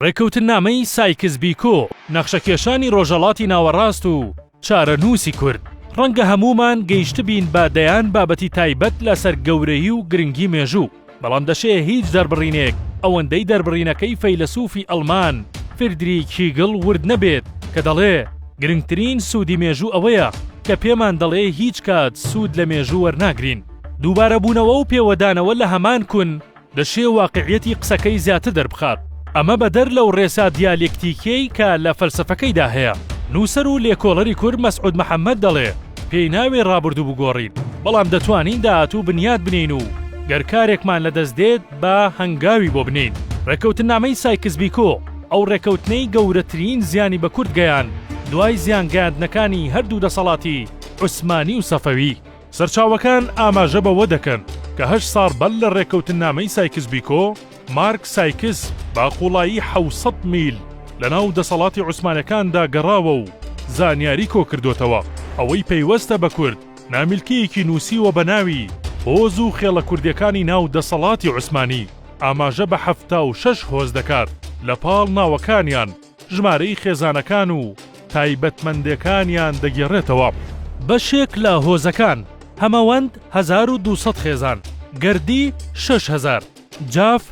ڕێککەوتننامەی سایکس بیکۆ، نەخشەکێشانی ڕۆژهەڵاتی ناوەڕاست و چارەنووسی کورد، ڕەنگە هەموومان گەیشتبین بە دەیان بابەتی تایبەت لەسەر گەورەیی و گرنگی مێژوو، بەڵام دەشێ هیچ دەربڕینێک ئەوەندەی دەربڕینەکەی فەیلەسووفی ئەڵمان فردریک هیگڵ ورد نەبێت کە دەڵێ گرنگترین سوودی مێژوو ئەوەیە کە پێمان دەڵێ هیچ کات سوود لە مێژوو وەرناگرین، دووبارەبوونەوە و پێوەدانەوە لە هەمان کون، دەشێ واقیعیەتی قسەکەی زیاتر دەربخات. ئەمە بەدەر لەو ڕێسا دیالێکتیکیەی کە لە فەلسەفەکەیدا هەیە. نووسەر و لێکۆڵەری کورد مەسعود محەمەد دەڵێ، پێی ناوێ ڕابوردوو بگۆڕین، بەڵام دەتوانین داهاتوو بنیات بنێین و گەر کارێکمان لە دەست دێت با هەنگاوی بۆ بنێین. ڕێکەوتننامەی سایکس بیکۆ، ئەو ڕێکەوتنەی گەورەترین زیانی بە کورد گەیاند دوای زیان گەیاندنەکانی هەردوو دەسەڵاتی عوسمانی و سەفەوی. سەرچاوەکان ئاماژە بەوە دەکەن کە هەشت ساڵ بەر لە ڕێککەوتننامەی سایکس بیکۆ، مارک سایکس بە قووڵایی حەوت سەد میل لە ناو دەسەڵاتی عوسمانەکاندا گەڕاوە و زانیاری کۆکردۆتەوە. ئەوەی پەیوەستە بە کورد، نامیلکەیەکی نووسیوە بە ناوی هۆز و خێڵە کوردیەکانی ناو دەسەڵاتی عوسمانی، ئاماژە بە حەفتا و شەش هۆز دەکات لە پاڵ ناوەکانیان، ژمارەی خێزانەکان و تایبەتمەندێکانیان دەگێڕێتەوە. بەشێک لە هۆزەکان، هەمەوەند هەزار و دوو سەد خێزان، گەردی شەش هەزار، جاف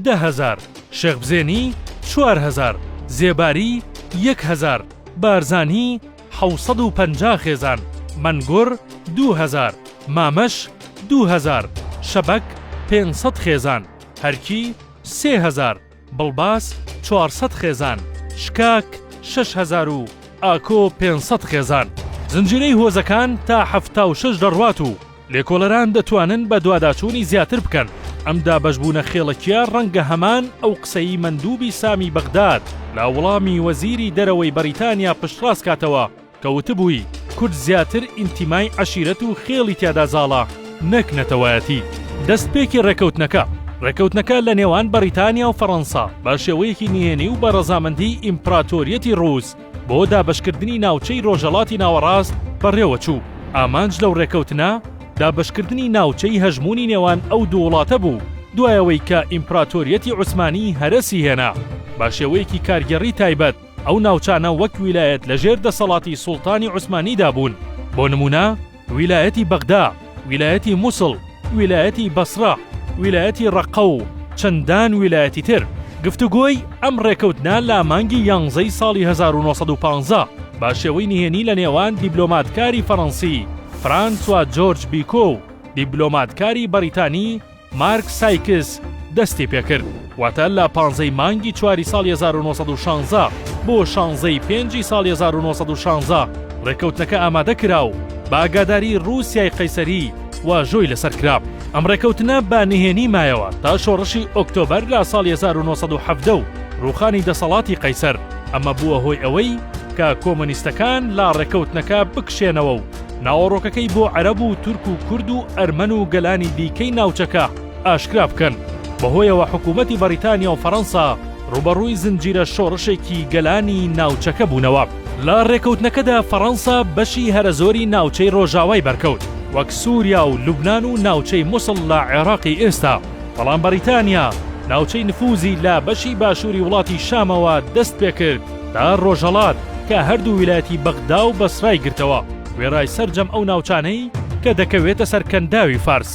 دە هەزار، شێخبزێنی چوار هەزار، زێباری یەک هەزار، بارزانی حەوت سەد و پەنجا خێزان، مەنگوڕ دوو هەزار، مامەش دوو هەزار، شەبەک پێنج سەد خێزان، هەرکی سێ هەزار، بڵباس چوار سەد خێزان، شکاک شەش هەزار و ئاکۆ پێنج سەد خێزان. زنجیرەی هۆزەکان تا حەفتا و شەش دەڕوات و لێکۆڵەران دەتوانن بەدواداچوونی زیاتر بکەن. ئەم دابەشبوونە خێڵەکییە ڕەنگە هەمان ئەو قسەی مەندوبی سامی بەغداد لە وڵامی وەزیری دەرەوەی بەریتانیا پشتڕاست کاتەوە، کە وتبووی کورد زیاتر ئینتیمای عەشیرەت و خێڵی تیادا زاڵە نەک نەتەوایەتی. دەستپێکی ڕێکەوتنەکە ڕێکەوتنەکە لە نێوان بەڕیتانیا و فەڕەنسا بە شێوەیەکی نهێنی و بە ڕەزامەندیی ئیمپڕاتۆریەتی ڕووس بۆ دابەشکردنی ناوچەی ڕۆژهەڵاتی ناوەڕاست بەڕێوە چوو. ئامانج لەو ڕێکەوتنە دابەشکردنی ناوچەی هەژموونی نێوان ئەو دوو وڵاتە بوو، دوای ئەوەی کە ئیمپڕاتۆریەتی عوسمانی هەرەسی هێنا بە شێوەیەکی کارگێڕی تایبەت، ئەو ناوچانە وەک ویلایەت لە ژێر دەسەڵاتی سوڵتانی عوسمانیدا بوون، بۆ نموونە ویلایەتی بەغدا، ویلایەتی موسڵ، ویلایەتی بەسرە، ویلایەتی ڕەققە و چەندان ویلایەتی تر. گفتوگۆی ئەم ڕێکەوتنە لە مانگی یانزەی ساڵی هەزار و نۆ سەد و پازدە بە شێوەی نهێنی لە نێوان دیبلۆماتکاری فەڕەنسی فرانسوا جۆرج بیکۆ و دیبلۆماتکاری بەڕیتانی مارک سایکس دەستی پێکرد واتە لە پانزەی مانگی چواری ساڵ 1916 بۆ شانزەی پێنجی ساڵ 1916 ڕێکەوتنەکە ئامادە کرا و بە ئاگاداری ڕووسای قەیسەری واژۆی لەسەر کرا ئەم ڕێکەوتنە بە نهێنی مایەوە تا شۆڕشی ئۆکتۆبەر لە ساڵ 1970 و ڕوخانی دەسەڵاتی قەیسەر ئەمە بووە هۆی ئەوەی کە کۆمۆنیستەکان لا ڕێکەوتنەکە بکشێنەوە و ناوەڕۆکەکەی بۆ عەرەب و تورک و کورد و ئەرمەن و گەلانی دیکەی ناوچەکە ئاشکرا بکەن، بەهۆیەوە حکوومەتی بەڕیتانیا و فەرەنسا ڕووبەڕووی زنجیرە شۆڕشێکی گەلانی ناوچەکە بوونەوە. لە ڕێککەوتنەکەدا فەرەنسا بەشی هەرە زۆری ناوچەی ڕۆژاوای بەرکەوت، وەک سووریا و لوبنان و ناوچەی موسڵ لە عێراقی ئێستا، بەڵام بەڕیتانیا ناوچەی نفووزی لە بەشی باشووری وڵاتی شامەوە دەست پێ کرد، تا ڕۆژهەڵات کە هەردوو ویلایەتی بەغدا و بەسرای گرتەوە، وێڕای سەرجەم ئەو ناوچانەی کە دەکەوێتە سەر کەنداوی فارس.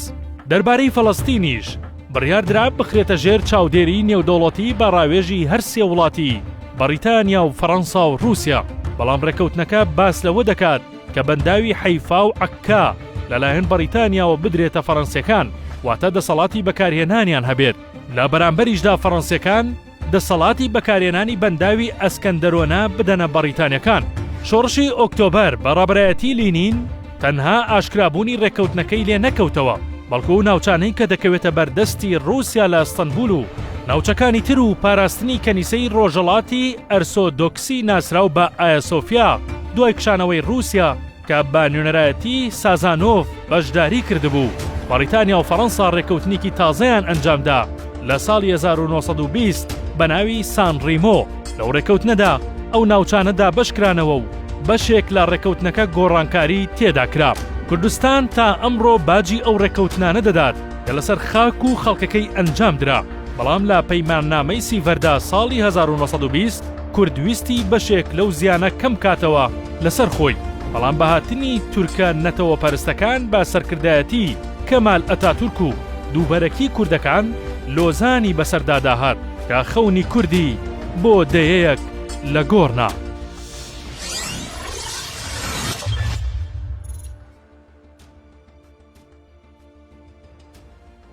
دەربارەی فەلەستینیش بڕیار درا بخرێتە ژێر چاودێریی نێودەوڵەتی بە ڕاوێژی هەر سێ وڵاتی بەڕیتانیا و فەرەنسا و ڕووسیا، بەڵام ڕێککەوتنەکە باس لەوە دەکات کە بەنداوی حەیفا و عەککا لەلایەن بەڕیتانیاوە بدرێتە فەرەنسییەکان، واتە دەسەڵاتی بەکارهێنانیان هەبێت، لە بەرامبەریشدا فەرەنسییەکان، دەسەڵاتی بەکارێنانی بەنداوی ئەسکەندەرۆنە بدەنە بەڕیتانیەکان. شۆڕشی ئۆکتۆبەر بە ڕابەرایەتی لینین تەنها ئاشکرابوونی ڕێککەوتنەکەی لێ نەکەوتەوە، بەڵکو ئەو ناوچانەی کە دەکەوێتە بەر دەستی ڕووسیا لە ئەستەنبول و ناوچەکانی تر و پاراستنی کەنیسەی ڕۆژەڵاتی ئەرسۆدۆکسی ناسراو بە ئایاسۆفیا دوای کشانەوەی ڕووسیا کە بە نوێنەرایەتی سازانۆڤ بەشداری کردبوو، بەڕیتانیا و فەڕەنسا ڕێککەوتنێکی تازەیان ئەنجامدا لە ساڵی هەزار و نۆ سەد و بیست بە ناوی سان ڕیمۆ، لەو ڕێککەوتنەدا ئەو ناوچانە دابەش کرانەوە و بەشێک لە ڕێککەوتنەکە گۆڕانکاری تێدا کرا. کوردستان تا ئەمڕۆ باجی ئەو ڕێککەوتنانە دەدات کە لەسەر خاک و خەڵکەکەی ئەنجام درا، بەڵام لە پەیماننامەی سیڤەردا ساڵی هەزار و نۆ سەد و بیست، کورد ویستی بەشێک لەو زیانە کەم کاتەوە لەسەر خۆی، بەڵام بە هاتنی تورکە نەتەوە پەرستەکان بە سەرکردایەتی کەمال ئەتاتورک و دووبەرەکی کوردەکان لۆزانی بەسەردا داهات کە خەونی کوردی بۆ دەیەیەک لە گۆڕ نا.